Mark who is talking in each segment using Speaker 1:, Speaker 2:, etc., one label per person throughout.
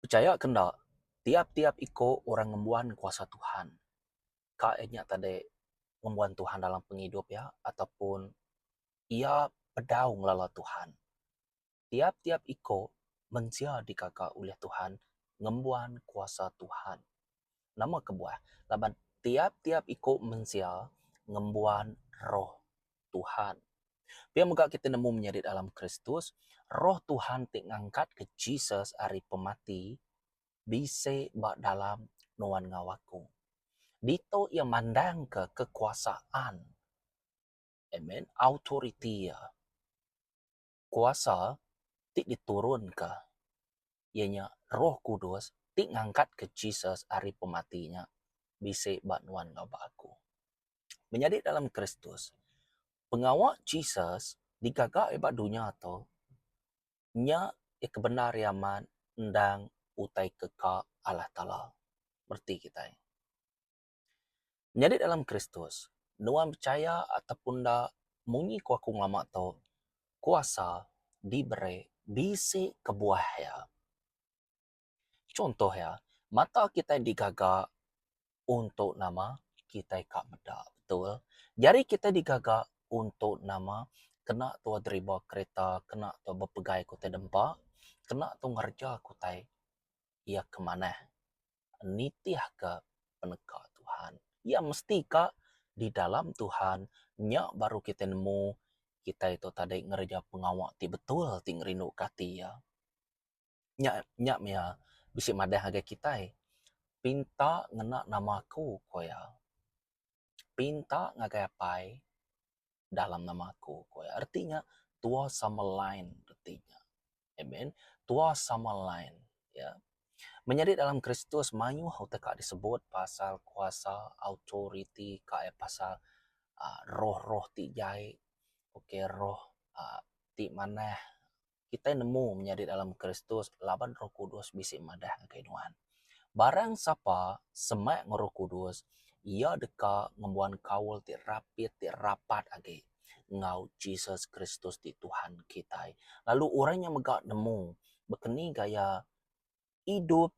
Speaker 1: Pechaya ke enda, tiap-tiap iku orang ngembuan kuasa Tuhan. Ka iya nya tadi ngembuan Tuhan dalam pengidup iya ataupun iya pedau ngelala Tuhan. Tiap-tiap iko mensia dikaga ulih Tuhan ngembuan kuasa Tuhan. Nama kebuah? Laban tiap-tiap iko mensia ngembuan Roh Tuhan. Pia mega kiti nemu menyadi dalam Kristus, Roh Tuhan ti ngangkatka Jesus ari pemati bisi ba dalam nuan enggau aku. Dito Iya mandangka kekuasaan, amen, autoriti Iya. kuasa ti diturunka iya nya roh kudus ti ngangkatka Jesus ari pemati nya bisi ba nuan enggau ba aku. Menyadi dalam Kristus, pengawa Jesus digaga iya ba dunya tu nya iya ke bendar iya amat endang utai ke ka Allah Taala reti kitai. Nyadi dalam Kristus, nuan pechaya ataupun enda, munyi ku aku ngelama tu, kuasa diberi bisi kebuah iya. Chunto iya, mata kitai digaga untuk nama? Kitai ka meda, betul. Jari kitai digaga untuk nama? Kena tau deriba kereta, kena tau bepegai ku tai dempa, kena tau ngereja ku tai iya ke manah. nitihka peneka Tuhan. Iya mesti ka di dalam Tuhan nya baru kitai nemu kitai tu tadi ngereja pengawa ti betul ti ngerinduka ati iya. Nya nya mia bisi madah ngagai kitai pinta ngena nama aku ku iya. Pinta ngagai Apai dalam nama aku ku iya. Reti nya Tua Summerline reti nya. Amen. Tua sama lain. Ya. Menyadi dalam Kristus mayuh utai ka disebut pasal kuasa, autoriti kaii pasal aaa roh-roh ti jai. Okey roh aaa ti manah. Kitai nemu menyadi dalam Kristus laban Roh Kudus bisi madah ngagai nuan. Barang sapa semak ngeroh kudus, iya deka ngembuan kaul ti rapit ti rapat agi enggau Jesus Kristus ti Tuhan kitai. Lalu orang nya mega nemu bekeni gaya idup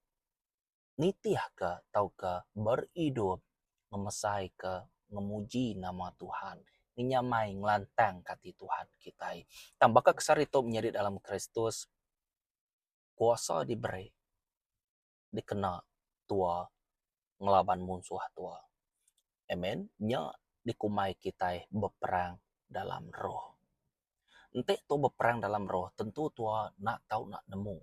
Speaker 1: nitihka tauka beridup ngemesaika ngemuji nama Tuhan inya mai ngelantangka ati Tuhan kitai. Tang baka ke sehari tu menyadi dalam Kristus. Kuasa diberi dikena tua ngelaban munsuh tua. Amen. Nya dikumbai kitai beperang dalam roh. Enti tu beperang dalam roh tentu tua enda tau nak nemu.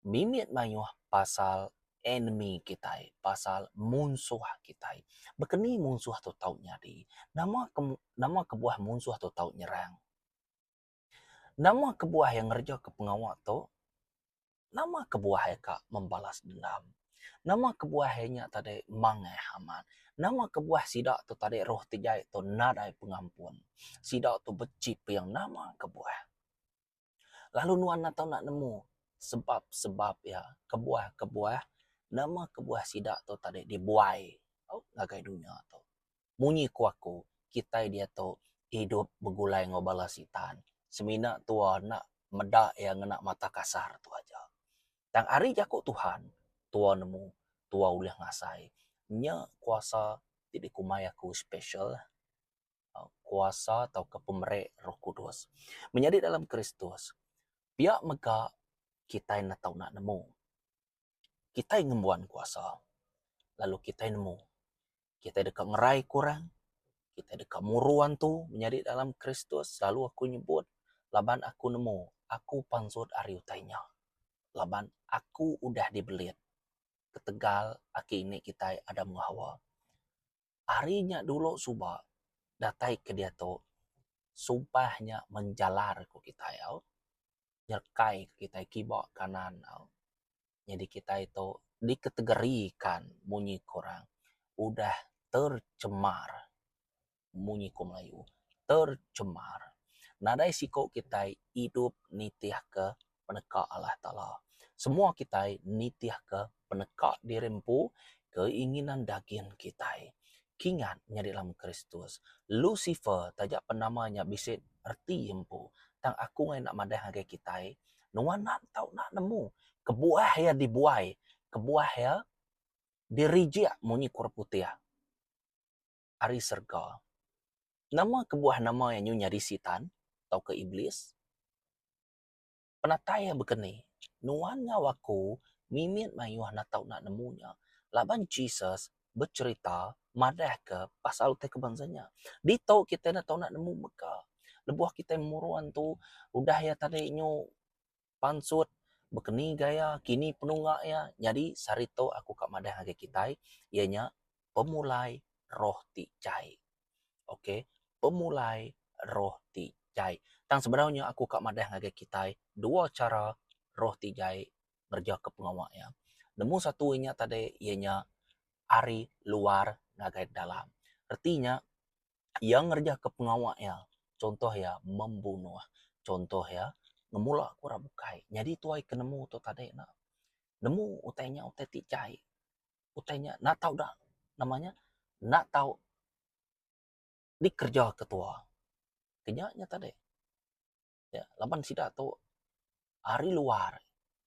Speaker 1: Mimit mayuh pasal enemy kitai, pasal munsuh kitai. Baka ni munsuh tu tau nyadi? Nama ke nama kebuah munsuh tu tau nyerang? Nama kebuah iya ngerejaka pengawa tu? Nama kebuah iya ka membalas dendam? Nama kebuah iya nya tadi mangaih amat? Nama kebuah sida tu tadi roh ti jai tu nadai pengampun? Sida tu beci pia nama kebuah. Lalu nuan enda tau enda nemu sebab-sebab iya, kebuah-kebuah, nama kebuah sida tu tadi dibuai ngagai dunya tu. Munyi ku aku, kitai diatu idup begulai enggau bala Sitan. Semina tua enda meda iya ngena mata kasar tu aja. Tang ari jaku Tuhan, tua nemu, tua ulih ngasai. Nya kuasa ti dikumbai aku special, kuasa tauka pemeri Roh Kudus. Menyadi dalam Kristus, pia mega kitai enda tau enda nemu. Kitai ngembuan kuasa lalu kitai nemu. Kita deka ngerai ke orang. Kita deka muruan tu menyadi dalam Kristus selalu aku nyebut laban aku nemu aku pansut ari utai nya. Laban aku udah dibelit ketegal aki indi kitai Adam enggau Hawa. Ari nya dulu suba datai ke diatu sumpah nya menjalar ke kitai au. Nyerekai ke kitai kiba kanan au. nyadi kitai tu diketegerikan munyi korang udah tercemar munyi ku melayu tercemar nadai siko kitai idup nitih ke peneka Allah taala semua kitai nitih ke peneka diri empu keinginan dagin kitai kingat nyadi dalam kristus lusifer taja penama nya bisi reti empu tang aku ngena madah ngagai kitai nuan enda tau nak nemu kebuah ia dibuai kebuah ia dirijik munyi kura putih ari serega. Nama kebuah nama ia nyu nyadi sitan tauka iblis? Penatai ia bekeni, nuan enggau aku mimit mayuh enda tau nak nemu nya laban Jesus becherita madahka pasal utai ke bansa nya. Ditu kitai enda tau nemu mega lebuh kitai murun tu udah iya tadi nyu pansut bekeni gaya kini penunga iya nyadi sehari tu aku ka madah ngagai kitai iya nya pemulai roh ti jai. Ok pemulai roh ti jai. Tang sebedau nya aku ka madah ngagai kitai dua chara roh ti jai ngerejaka pengawa iya. Nemu satu inya tadi iya nya ari luar ngagai dalam. Reti nya iya ngerejaka pengawa iya chuntoh iya membunuh, chuntoh iya ngemula ke orang bukai. Nyadi tuai ke nemu tu tadi ne nemu utai nya utai ti jai. Utai nya enda tau da nama nya enda tau dikereja ketua. Ke nya nya tadi. ya laban sida tu ari luar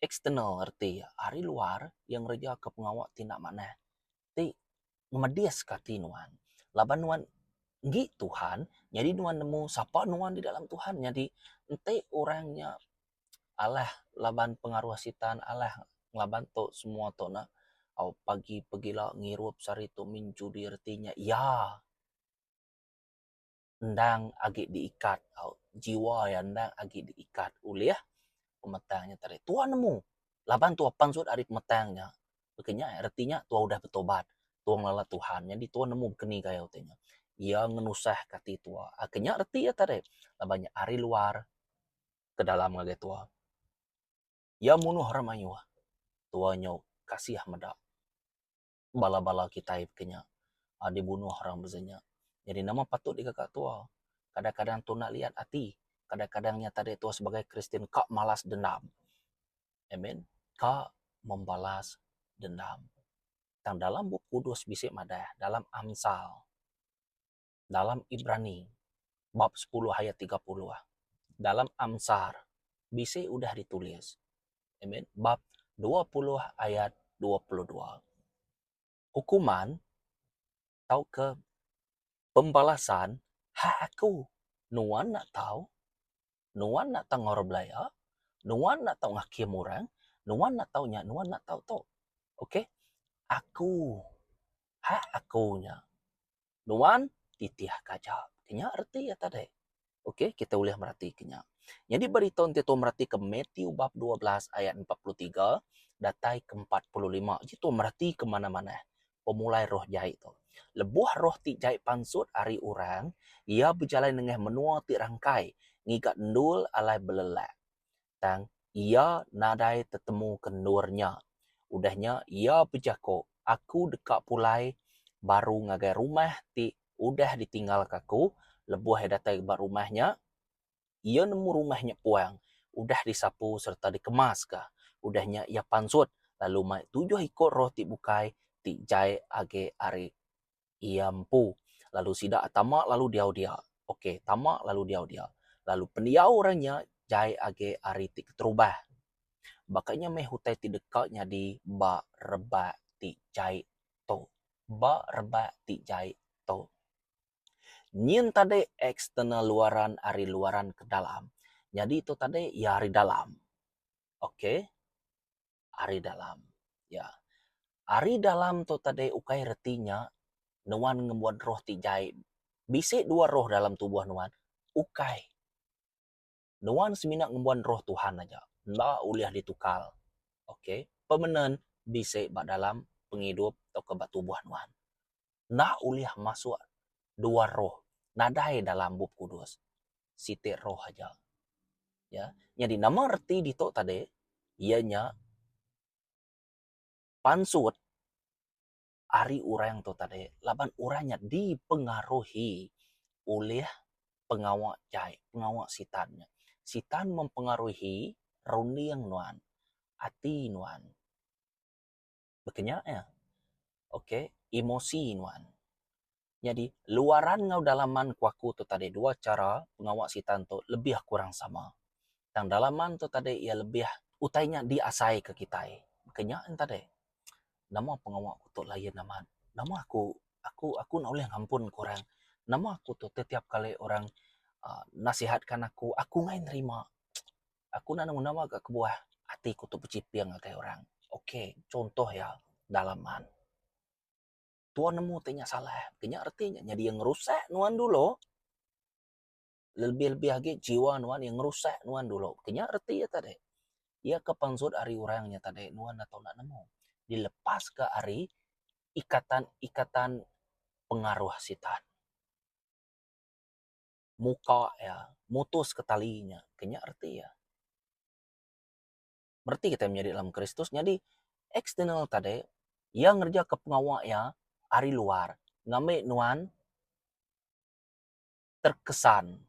Speaker 1: external reti ya ari luar iya ngereja ka pengawa ti enda manah ti memedis ka ati nuan laban nuan enggi Tuhan nyadi nuan nemu sapa nuan di dalam Tuhan nyadi enti orang nya alah laban pengaruh sitan alah laban tu semua tu na au pagi pegila ngirup sehari tu main judi reti nya iya. endang agi diikat tau, jiwa iya endang agi diikat ulih pemetang nya tadi. Tuhan nemu laban tuah pansut ari pemetang nya. Baka nya reti nya tuah udah betobat, tuah ngelala Tuhan. Nyadi tuah nemu baka ni gaya ti nya. Iya ngenusahka ati tuah. Baka nya reti iya tadi. Laban nya ari luar ke dalam ngagai tuah. Iya munuh orang mayuh. Tuah nyau kasih meda. bala-bala kitai ke nya dibunuh orang beza nya. Jadi nama patut dikaka tua? Kadang-kadang tu enda liat ati. Kadang-kadang nya tadi tua sebagai Kristian ka malas dendam. Amen. Ka membalas dendam. Tang dalam Bup Kudus bisi madah dalam Amsal. dalam Ibrani bab sepuluh ayat tiga puluh. Dalam Amsar bisi udah ditulis. Amen. Bab dua puluh ayat dua puluh dua. Hukuman tauka pembalasan hak aku. Nuan enda tau. Nuan enda tau ngaul orang belaya. Nuan enda tau ngakim orang. Nuan enda tau nya, nuan enda tau tu. Okay. Aku. Hak aku nya. nuan titih ka aja. Inya reti iya tadi. Ok, kita ulih meratika nya. Nyadi beri tau enti tuan meratika Matthew bab 12 ayat 43 datai ke 45, uji tuan meratika manah-manah pemulai roh jai tu. Lebuh roh ti jai pansut ari orang, iya bejalai nengah menua ti rangkai ngiga endul alai belelak. tang iya nadai tetemu ke endur nya. Udah nya iya bejako, Aku deka pulai baru ngagai rumah ti udah ditinggalka aku. Lebuh iya datai ba rumah nya, iya nemu rumah nya puang, udah disapu sereta dikemaska. Udah nya iya pansut lalu mai tujuh iku roh ti bukai ti jai agi ari Iya empu. Lalu sida tama lalu diau dia. Ok, tama lalu diau dia. Lalu pendiau orang nya jai agi ari ti keterubah. Baka nya meh utai ti deka nyadi ba rebak ti jai tu. Ba rebak ti jai tu. Nyin tadi eksternal luaran ari luaran ke dalam. Nyadi tu tadi iya ari dalam. Ok. ari dalam. Ya. Ari dalam tu tadi ukai reti nya nuan ngembuan roh ti jai. Bisi dua roh dalam tubuh nuan? Ukai. Nuan semina ngembuan roh Tuhan aja. Enda ulih ditukar. Okay. Pemenun bisi ba dalam pengidup tauka ba tubuh nuan. enda ulih masuk dua roh nadai dalam bup kudus. Siti roh aja. Ya. Nyadi nama reti ditu tadi iya nya pansut ari orang tu tadi laban orang nya dipengaruhi ulih pengawa jai pengawa sitan nya. Sitan mempengaruhi runding nuan, ati nuan. baka nya iya. Ok emosi nuan. Nyadi luaran enggau dalaman ku aku tu tadi dua chara pengawa Sitan tu lebih kurang sama. Tang dalaman tu tadi iya lebih utai nya diasai ke kitai. Baka nya en tadi. Nama pengawa ku tu lain amat. Nama aku aku aku enda ulih ngampun ke orang. Nama aku tu tetiap kali orang uhh nasihatkan aku, aku nggai nerima. Aku enda nemu nama gak kebuah ati ku tu bechiping ngagai orang. Ok contoh iya dalaman. Tua nemu ti nya salah ti nya reti nya nyadi iya ngerusak nuan dulu. Lebih-lebih agi jiwa nuan iya ngerusak nuan dulu. Ti nya reti iya tadi. Iya ke pansut ari orang nya tadi nuan enda tau enda nemu. Dilepas ke ari ikatan-ikatan pengaruh sitan. muka iya mutus ke tali nya kenya reti iya. Reti kitai menyadi dalam Kristus nyadi eksternal tadi iya ngereja ke pengawa iya ari luar ngambi nuan terkesan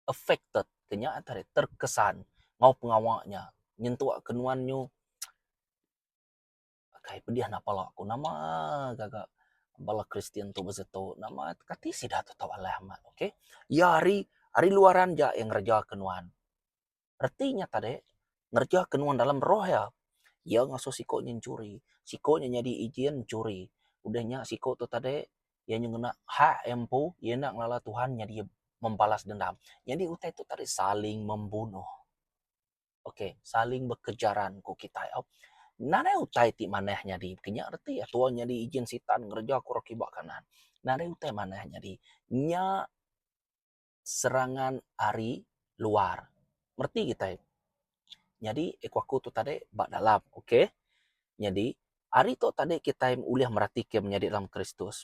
Speaker 1: affected kenya tadi terkesan enggau pengawa nya nyentuk ke nuan nyu Kai pedih enda pala aku nama gaga bala kristian tu bisi tu nama kati sida tu tau alai amat ok iya ari ari luaran ja iya ngereja ke nuan reti nya tadi ngereja ke nuan dalam roh iya iya ngasuh siko nya nyuri siko nya nyadi ejen nyuri udah nya siko tu tadi iya nya ngena hak iya empu iya enda ngelala tuhan nyadi membalas dendam nyadi utai tu tadi saling membunuh. Ok, saling bekejaran ku kitai au. Nadai utai ti manah nyadi kinya reti iya tuai nyadi ijin sitan ngereja ku orang kiba kanan. Nadai utai manah nyadi. Nya serangan ari luar. Reti kitai. Nyadi eh ku aku tu tadi ba dalam. Ok. Nyadi ari tu tadi kitai ulih meratika menyadi dalam Kristus.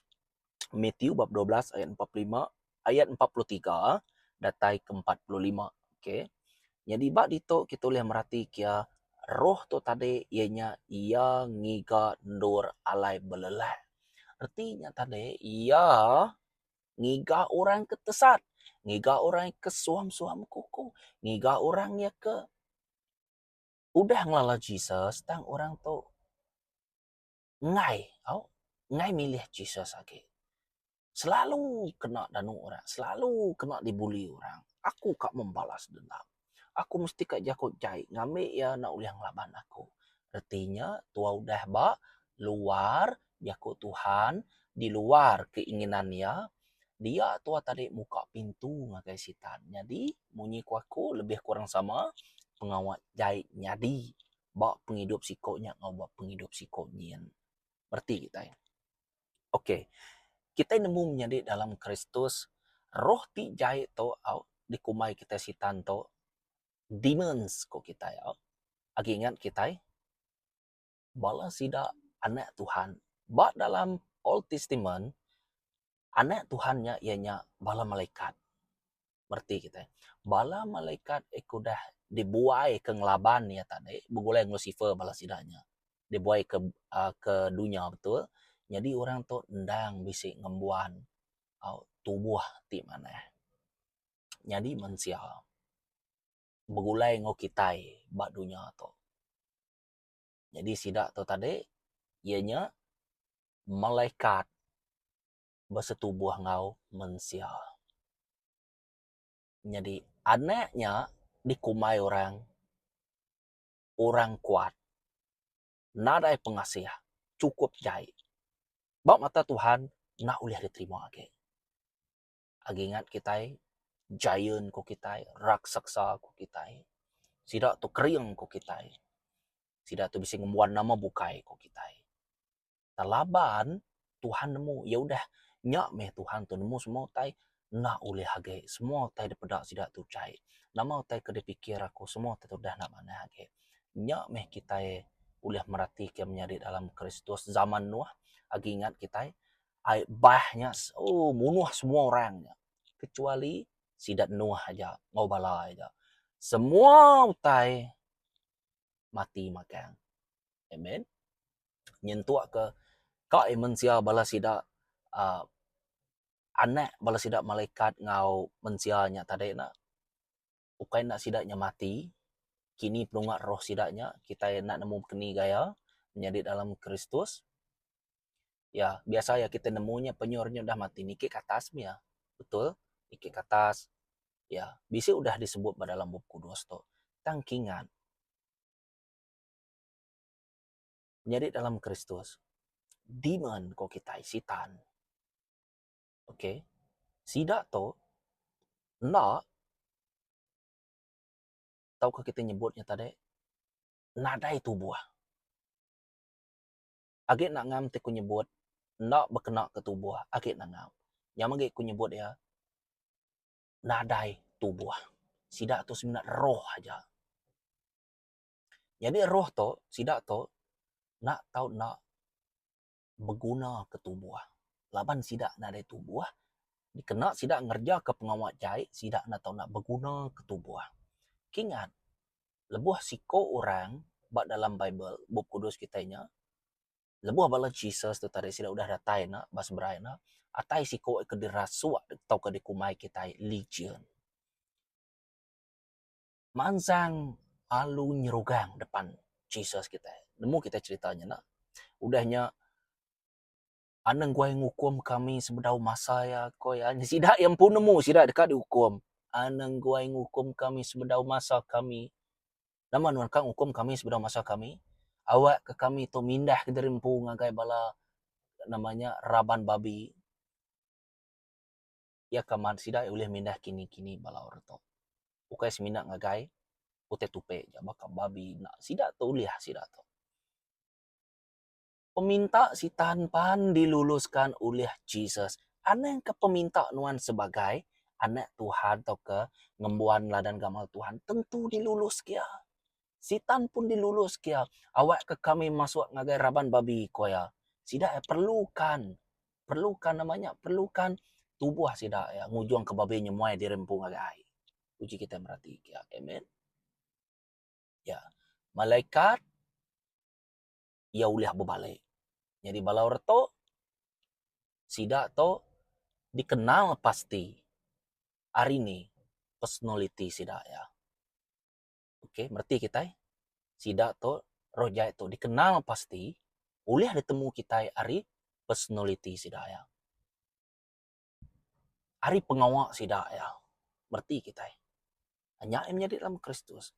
Speaker 1: Mathew bab dua belas ayat empat puluh lima. ayat empat puluh tiga datai ke empat puluh lima. Okay. Nyadi ba ditu kita ulih merati kia roh tu tadi iya nya iya ngiga endur alai belelak. Reti nya tadi iya ngiga orang ke tesat, ngiga orang ke suam-suam kuku, ngiga orang iya ke udah ngelala Jesus tang orang tu enggai tau enggai milih Jesus agi selalu kena danu orang selalu kena di bully orang aku ka membalas dendam aku mesti ka jaku jai ngambi iya enda ulih ngelaban aku reti nya tua udah ba luar jaku Tuhan di luar keinginan iya dia tua tadi muka pintu ngagai sitan nyadi munyi ku aku lebih kurang sama pengawa jai nyadi ba pengidup siko nya enggau ba pengidup siko nyin. Reti kitai. Ok. Kitai nemu menyadi dalam Kristus, roh ti jai tu au dikumbai kitai Sitan tu demons ko kitai au. Agi ingat kitai bala sida anak Tuhan ba dalam Old Testament Anak Tuhan nya iya nya bala malaikat. Bereti kitai, bala malaikat ke udah dibuaika ngelaban iya tadi begulai enggau Lusifer bala sida nya dibuaika uhh ke dunya betul. Nyadi orang tu endang bisi ngembuan uhh tubuh ti manah. Nyadi mensia begulai enggau kitai ba dunya tu. Nyadi sida tu tadi iya nya malaikat besetubuh enggau mensia. Nyadi anak nya dikumbai orang orang kuat nadai pengasih chukup jai ba mata Tuhan enda ulih diterima agi. agi ingat kitai giant ku kitai raksasa ku kitai sida tu kering ku kitai sida tu bisi ngembuan nama bukai ku kitai tang laban Tuhan nemu iya udah nya meh Tuhan tu nemu semua utai enda ulih agi semua utai dep peda sida tu chai nama utai ke dipikir aku semua tu udah enda manah agi nya meh kitai ulih meratika menyadi dalam kristus zaman nuh agi ingat kitai ai bah nya ooh munuh semua orang nya kecuali sida Nuh aja enggau bala iya nya semua utai mati magang. Amen. Nyentuk ke ka ai mensia bala sida aaa anak bala sida malaikat enggau mensia nya tadi ne. ukai enda sida nya mati kini penunga roh sida nya kitai enda nemu keni gaya menyadi dalam Kristus ya biasa ya kitai nemu nya penyoh inya udah mati niki ke atas meh ya betul niki ke atas ya bisi udah disebut ba dalam bup kudus tu tang kingat menyadi dalam Kristus demon ko kitai sitan. ok sida tu enda tauka kita nyebut nya tadi nadai tubuh agi enda ngam ti ku nyebut enda bekena ke tubuh agi enda ngam nyam agi ku nyebut iya nadai tubuh sida tu semina roh aja nyadi roh tu sida tu enda tau enda beguna ke tubuh laban sida nadai tubuh dikena sida ngereja ke pengawa jai sida enda tau beguna ke tubuh. Ki ngat lebuh siko orang ba dalam bible bup kudus kitai nya lebuh bala Jesus tu tadi sida udah datai ena ba seberai ena atai siko ke dirasuk tauka dikumbai kitai legion. mansang alu nyerugang depan Jesus kitai. Nemu kitai cerita nya enda? Udah nya anang guai ngukum kami sebedau masa iya, ko iya. Sida iya empu nemu sida deka diukum. Anang guai ngukum kami sebedau masa kami. Nama nuan ka ngukum kami sebedau masa kami? Awak ka kami tu mindah kediri empu ngagai bala nama nya raban babi. iya ke mat sida ulih mindah kini-kini bala orang tu. Ukai semina ngagai utai tupi aja baka babi enda sida tu ulih sida tu. Peminta Sitan pan diluluskan ulih Jesus. Anang ke peminta nuan sebagai anak Tuhan tauka ngembuan ladan gamal Tuhan tentu diluluskia. Sitan pun dilulus kia awak ke kami masuk ngagai raban babi ko iya. Sida iya perlu kan perlu kan nama nya perlu kan tubuh sida iya ngujung ke babi nyemuai diri empu ngagai ai. Uji kita merati kia. Amen. Ya. Malaikat iya ulih bebalik. Nyadi bala orang tu sida tu dikenal pasti hari ni personaliti sida iya. ok mereti kitai sida tu roh jai tu dikenal pasti ulih ditemu kitai ari personality sida iya ari pengawa sida iya mereti kitai nya yang nyadi dalam kristus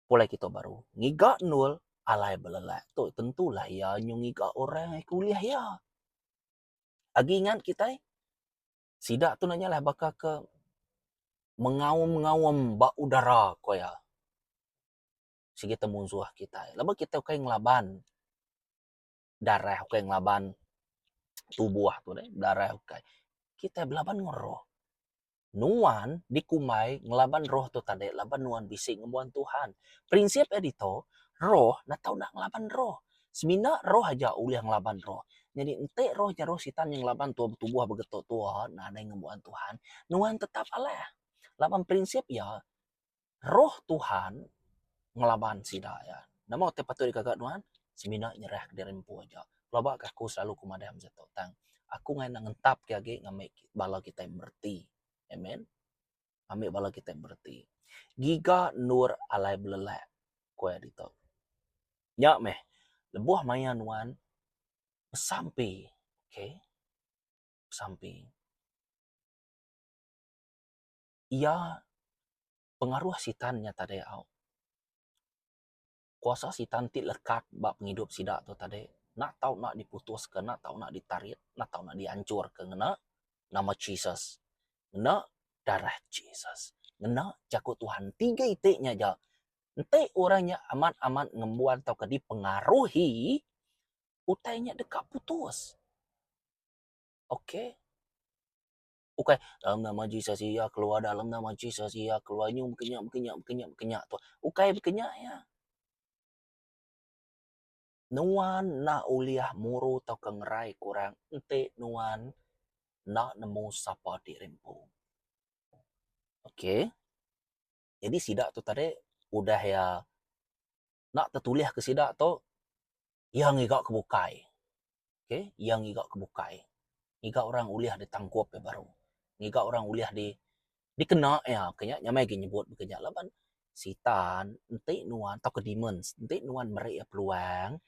Speaker 1: pulai kita baru ngiga endur alai belelak tu tentu lah iya nyu ngiga orang ulih iya agi ngat kitai Sida tu nya lah baka ke mengaum-ngaum ba udara ku iya. Sigi te munsuh kitai. Laban kitai ukai ngelaban darah, ukai ngelaban tubuh tu deh, darah ukai. Kitai belaban ngen roh. Nuan dikumbai ngelaban roh tu tadi laban nuan bisi ngembuan Tuhan. Prinsip iya ditu, roh neh tau enda ngelaban roh. Semina roh aja ulih ngelaban roh. Nyadi enti roh nyerus sitan nya ngelaban tua betubuh begeto tua nadai ngembuan Tuhan, nuan tetap alah. Laban prinsip iya, roh Tuhan ngelaban sida iya. Nama utai patut digaga nuan? Semina nyerahka diri empu aja. Pelabaka aku selalu ku madah masa tu tang aku ngena ngentapka agi ngambi bala kitai mereti. Amen. ambi bala kitai bereti. Giga endur alai belelak, ku iya ditu. Nya meh, lebuh maya nuan besampi, okay, besampi, iya pengaruh Sitan nya tadai au. kuasa sitan ti lekat ba pengidup sida tu tadi enda tau nak diputuska enda tau nak ditarit enda tau nak dianchurka ngena nama Jesus ngena darah Jesus ngena jaku Tuhan ti ga iti nya aja enti orang nya amat-amat ngembuan tauka dipengaruhi utai nya deka putus ok. ukai dalam nama Jesus iya keluar dalam nama Jesus iya keluar nyu mungkin nya mungkin nya mungkin nya mungkin nya Tuhan ukai mungkin nya iya. Nuan enda ulih muru tauka ngerai ke orang enti nuan enda nemu sapa ti ri empu. Okay. Jadi sida tu tadi udah iya enda tetulihka sida tu iya ngiga ke bukai. Okay, iya ngiga ke bukai. Ngiga orang ulih ditangkup iya baru. Ngiga orang ulih di dikena iya. Ka nya nyamai agi nyebut ka nya laban Sitan enti nuan tauka demons enti nuan meri iya peluang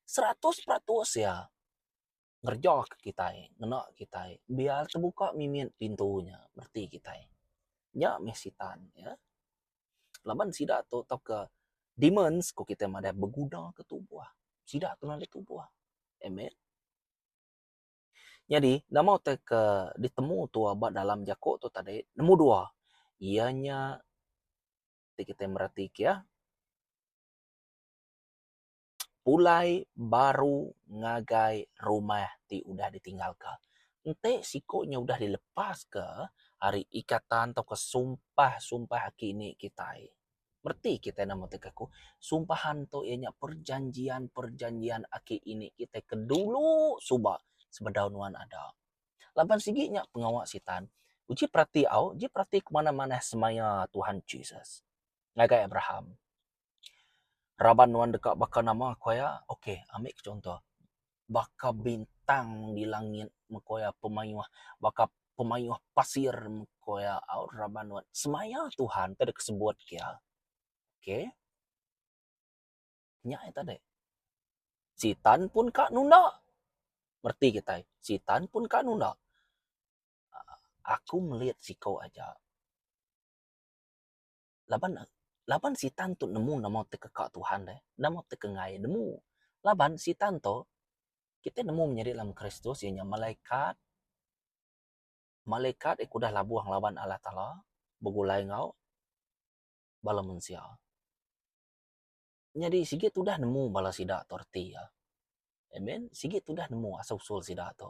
Speaker 1: seratus peratus iya ngereja ke kitai ngena kitai biar tebuka mimit pintu nya reti kitai. Nya meh sitan ne laban sida tu tauka demons ku kitai madah beguna ke tubuh sida ke nulung tubuh. Amen. Nyadi nama utai ke ditemu tuo ba dalam jako tu tadi nemu dua iya nya ti kitai mereti kia. pulai baru ngagai rumah ti udah ditinggalka. Enti siku nya udah dilepaska ari ikatan atau sumpah-sumpah aki indi kitai, reti kitai nama ti ke aku, sumpah ento iya nya perjanjian-perjanjian aki indi kitai ke dulu suba sebedau nuan ada. Laban sigi nya pengawa Sitan. Uji perati au, uji perati kemana-mana semaya Tuhan Jesus ngagai Abraham. Raban nuan deka baka nama ku iya? Ok ami ke chunto baka bintang di langit meh ku iya pemayuh baka pemayuh pasir meh ku iya au raban nuan. Semaya Tuhan ti deka sebut ke iya. Ok nya aja tadi. Sitan pun ka nunda. Reti kitai sitan pun ka nunda. Aku melit siko aja. laban laban sitan tu nemu nama ti keka Tuhan deh, nama ti ke ngai nemu. Laban sitan tu kitai nemu menyadi dalam Kristus iya nya malaikat, malaikat iko udah labuh ngelaban Allah Taala begulai enggau bala mensia. nyadi sigi tudah nemu bala sida tu reti iya. Amen. Sigi tudah nemu asal usul sida tu.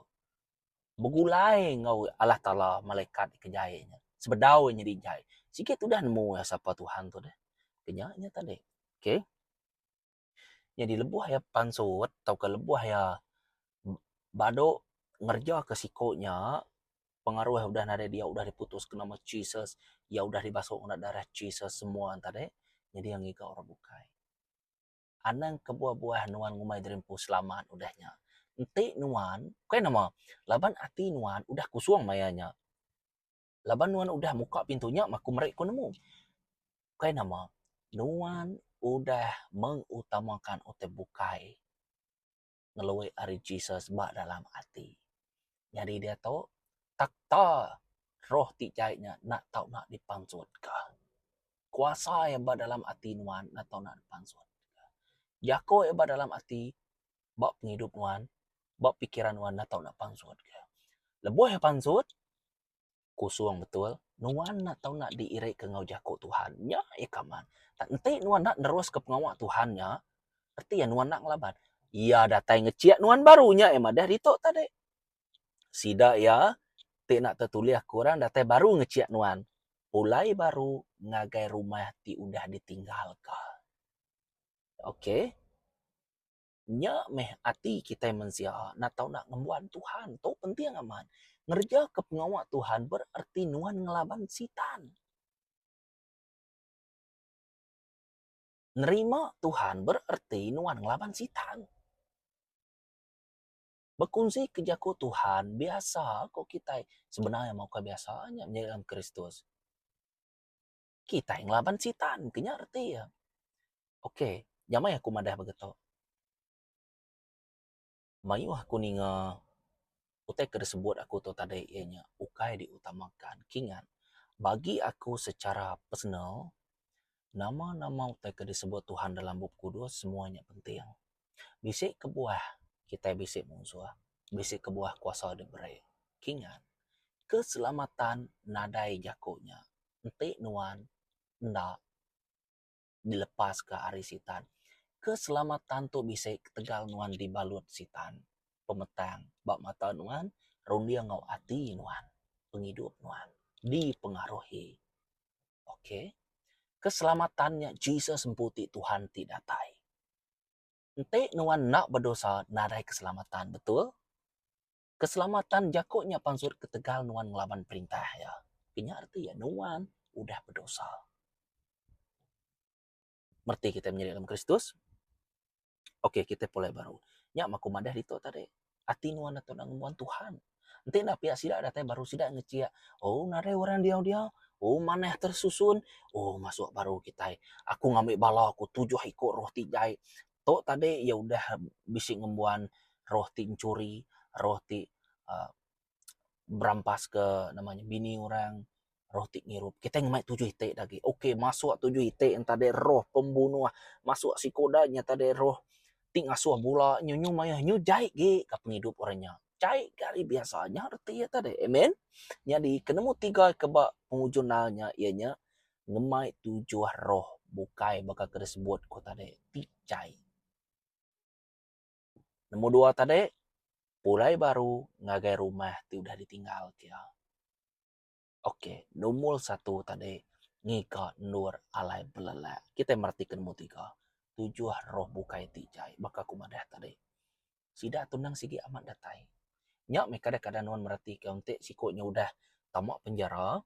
Speaker 1: Begulai enggau Allah Taala malaikat ke jai nya. Sebedau iya nyadi jai. Sigi tudah nemu iya sapa Tuhan tu deh. Ke nya nya tadi. Okay. Nyadi lebuh iya pansut tauka lebuh iya badu ngereja ke siko nya pengaruh udah nadai diau udah diputus ke nama Jesus iya udah dibasuh ngena darah Jesus semua enta deh nyadi iya ngiga orang bukai. Anang kebuah-buah nuan ngumbai diri empu selamat udah nya. Enti nuan ukai nama laban ati nuan udah kusung maya nya laban nuan udah muka pintu nya maku meri ku nemu ukai nama nuan udah mengutamakan utai bukai. ngelui ari Jesus ba dalam ati. Nyadi diatu takta roh ti jai nya enda tau nak dipansutka. Kuasa iya ba dalam ati nuan enda tau nak dipansutka. Jaku iya ba dalam ati ba pengidup nuan, ba pikiran nuan enda tau nak dipansutka. Lebuh iya pansut, Kusung betul, nuan enda tau nak diirika enggau jaku Tuhan. Nya iya kaban. Tang enti nuan enda neruska pengawa Tuhan nya, reti iya nuan enda ngelaban. Iya datai ngechik nuan baru. Nya iya madah ditu tadi. Sida iya ti enda tetulih ke orang datai baru ngechik nuan. Pulai baru ngagai rumah ti udah ditinggalka. Okey. Nya meh ati kitai mensia enda tau enda ngembuan Tuhan tu penting amat. Ngerejaka pengawa Tuhan berarti nuan ngelaban Sitan. Nerima Tuhan berarti nuan ngelaban Sitan. Bekunsi ke jaku Tuhan biasa ku kitai sebenar nya mah ukai biasa nya nyadi dalam Kristus. kitai ngelaban sitan ke nya reti iya. Ok nyamai aku madah ba geto mayuh aku ninga utai ke disebut aku tu tadi iya nya ukai di utamakan ki ngat bagi aku secara personal nama-nama utai ke disebut Tuhan dalam bup kudus semua nya penting. Bisi kebuah kitai bisi munsuh, bisi kebuah kuasa diberi. Kingat, keselamatan nadai jaku nya enti nuan enda dilepaska ari Sitan. Keselamatan tu bisi ketegal nuan dibalut Sitan pemetang ba mata nuan, runding enggau ati nuan, pengidup nuan dipengaruhi. Ok. Keselamatan nya Jesus empu ti Tuhan ti datai. Enti nuan enda bedosa nadai keselamatan, betul? Keselamatan jaku nya pansut ketegal nuan ngelaban perintah Iya. Kenya reti iya? Nuan udah bedosa. merti kitai menyadi dalam Kristus, ok kitai pulai baru. Nya mah aku madah ditu tadi. Ati nuan atu enda ngembuan Tuhan. Enti enda pia sida datai baru sida ngechia, oh nadai orang diau-diau, oh manah tersusun, oh masuk baru kitai. Aku ngambi bala aku tujuh iku roh ti jai. Tu tadi iya udah bisi ngembuan roh ti enchuri, roh ti uhh berampas ke nama nya bini orang roh ti ngirup kitai ngemai tujuh iti da agi ok masuk tujuh iti enta dei roh pembunuh masuk siko da nya enta dei roh ti ngasuh bula nyu nyu mayuh nyu jai gei ka pengidup orang nya jai ka ari biasa nya reti enta dei amen nyadi ke nombor tiga ke ba pengujung nal nya iya nya ngemai tujuh roh bukai baka ke disebut ku tadi ti jai. Nemu dua tadi, pulai baru ngagai rumah ti udah ditinggal kia. Ok, numur satu tadi, ngiga endur alai belelak. Kitai meratika numur tiga, tujuh roh bukai ti jai. Baka aku madah tadi, sida tunang sigi amat datai. Nya meh kadang-kadang nuan meratika enti siku nya udah tama penjara.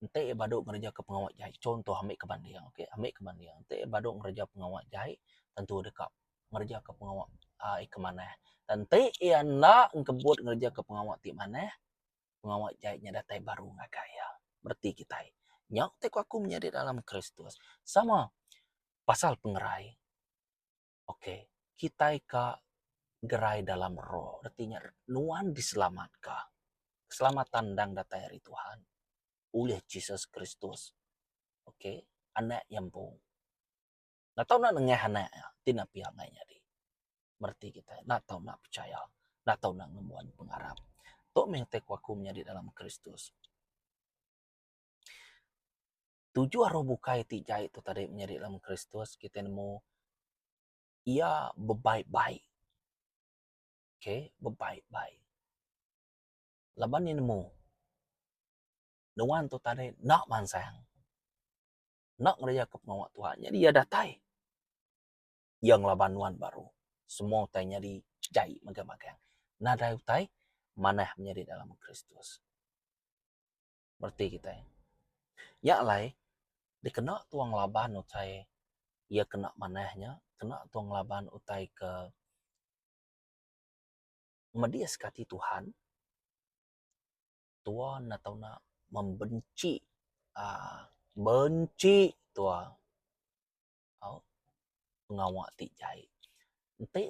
Speaker 1: Enti iya badu ngerejeka pengawa jai, chunto ambika banding ok, ambika banding. Enti iya badu ngereja pengawa jai tentu deka ngerejeka pengawa aaa ikam manah. Enti iya enda engkebut ngerejeka pengawa ti manah, pengawa jai nya datai baru ngagai iya. Bereti kitai. Nya ti ku aku menyadi dalam Kristus. Sama pasal pengerai. Ok kitai ka gerai dalam roh reti nya nuan diselamatka. Keselamatan endang datai ari Tuhan ulih Jesus Kristus ok anak iya empu. Enda tau enda nengah anak iya ti enda pia angai nyadi reti kitai enda tau enda pechaya enda tau enda ngembuan pengarap. Tu mih ngatai ku aku menyadi dalam Kristus. tujuh roh bukai ti jai tu tadi menyadi dalam Kristus kitai nemu iya bebaik-baik. Okay, bebaik-baik. Laban iya nemu nuan tu tadi enda mansang. Enda ngereja ke pengawa Tuhan. Jadi iya datai. Iya ngelaban nuan baru. Semua utai nyadi jai megang-megang. Nadai utai manah menyadi dalam Kristus. mereti kitai. Nya alai dikena tua ngelaban utai iya ke enda manah nya, kena tua ngelaban utai ke medis ke ati Tuhan, tua enda tau nak membenchi aaa benchi tua. Au pengawa ti jai enti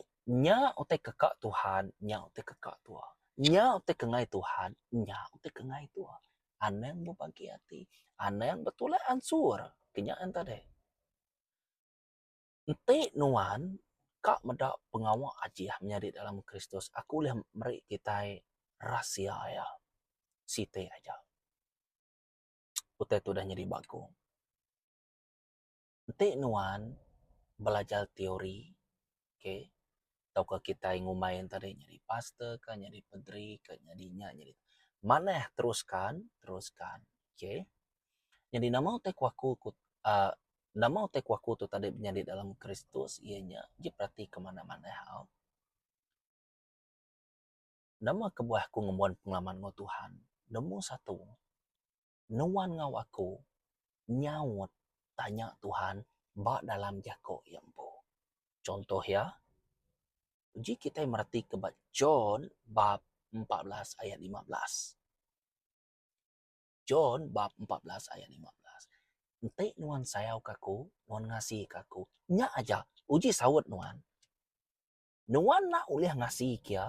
Speaker 1: nya utai keka Tuhan nya utai keka tua. Nya utai kengai Tuhan nya utai kengai tua. Anang bebagi ati anang betulak ansur ke nya enta deh. Enti nuan ka meda pengawa Ajeah menyadi dalam Kristus aku ulih meri kitai rahsia iya siti aja. Utai tu udah nyadi bagong. enti nuan belajar teori okay tauka kitai ngumbai ne tadi nyadi pastor ka nyadi padri ka nyadi nya nyadi tu manah teruskan teruskan okay nyadi nama utai ku aku ku uhh nama utai ku aku tu tadi nyadi dalam kristus iya nya agi berati ke manah manah au nama kebuah aku ngembuan pengalaman enggau tuhan nemu satu nuan enggau aku nyaut tanya Tuhan ba dalam jako iya empu. Chuntoh iya, uji kitai meratika ba John bab empat belas ayat lima belas. John bab empat belas ayat lima belas. Enti nuan sayauka aku, nuan ngasika aku. Nya aja uji saut nuan. nuan enda ulih ngasika iya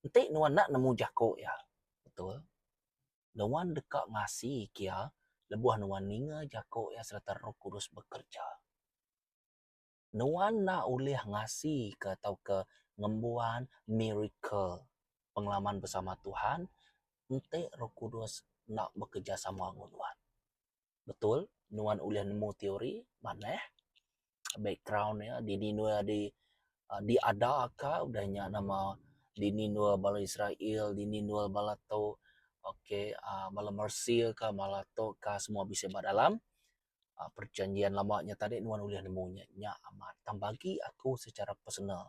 Speaker 1: enti nuan enda nemu jaku iya. Betul. Nuan deka ngasika iya lebuh nuan ninga jaku iya sereta Roh Kudus bekereja. Nuan enda ulih ngasika tauka ngembuan miracle, pengalaman bersama Tuhan, enti Roh Kudus enda bekerejasama enggau nuan. betul nuan ulih nemu teori manah background iya dini nuan di diada ka udah nya nama dini nuan bala Israel dini nuan bala tu okay aaa bala Mersea ka bala tu ka semua bisi ba dalam aaa perjanjian lama nya tadi nuan ulih nemu nya amat tang bagi aku secara personal.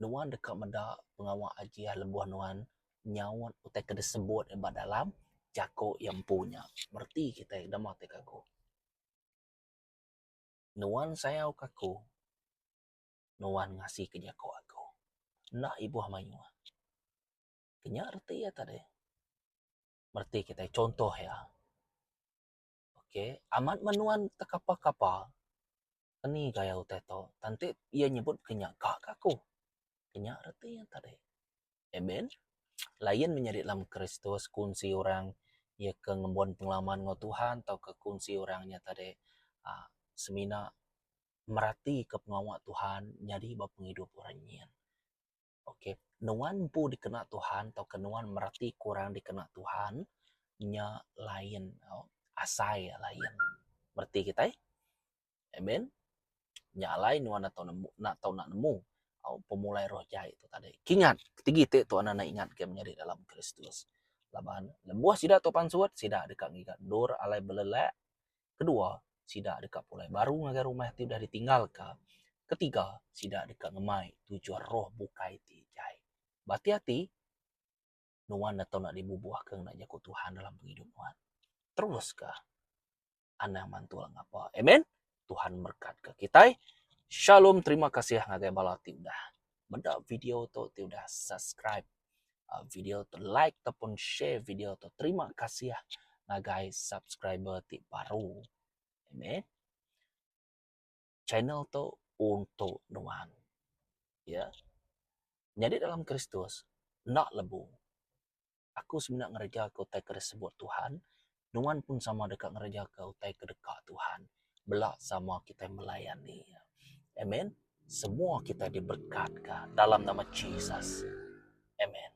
Speaker 1: nuan deka meda pengawa Ajih lebuh nuan nyaut utai ke disebut iya ba dalam jaku iya empu nya. Bereti kitai dema ti ke ku. Nuan sayau ke aku, nuan ngasika jaku aku. Enda ibuh mayuh. Inya reti iya tadi. Bereti kitai chunto iya. Ok amat meh nuan tekapa-kapa eni gaya utai to enti iya nyebut ke nya ka ke aku kenya reti iya tadi. Amen lain meh nyadi dalam kristus kunsi orang iya ke ngembuan pengalaman enggau Tuhan tauka kunsi orang nya tadi aaa semina meratika pengawa Tuhan nyadi ba pengidup orang nyin. Ok, nuan empu dikena Tuhan tauka nuan mereti kurang dikena Tuhan nya lain tau. Asai iya lain. Mereti kitai? Amen. Nya alai nuan enda tau nemu, enda tau nak nemu au pemulai roh jai tu tadi. Kingat, sigi ti Tuan enda ingat ke menyadi dalam Kristus. Laban lebuh sida tu pansut, sida deka ngiga endur alai belelak, Kedua, sida deka pulai baru ngagai rumah ti udah ditinggalka. Ketiga, sida deka ngemai tuju roh bukai ti jai. Bati ati, nuan enda tau nak dibubuh ke ngena Jaku Tuhan dalam pengidup nuan. Teruska anang mantul ngapa. Amen. Tuhan memberkatka kitai. Shalom. Terima kasih ngagai bala ti udah meda video tu ti udah subscribe uh, video tu like ataupun share video tu terima kasih ngagai subscriber ti baru amen channel tu untuk nuan ya yeah. jadi dalam Kristus nak lebu Aku semina ngerejaka utai ke disebut Tuhan, nuan pun sama deka ngerejaka utai ke deka Tuhan. Bela sama kitai melayani Iya. Amen. Semua kitai diberekatka dalam nama Jesus. Amen.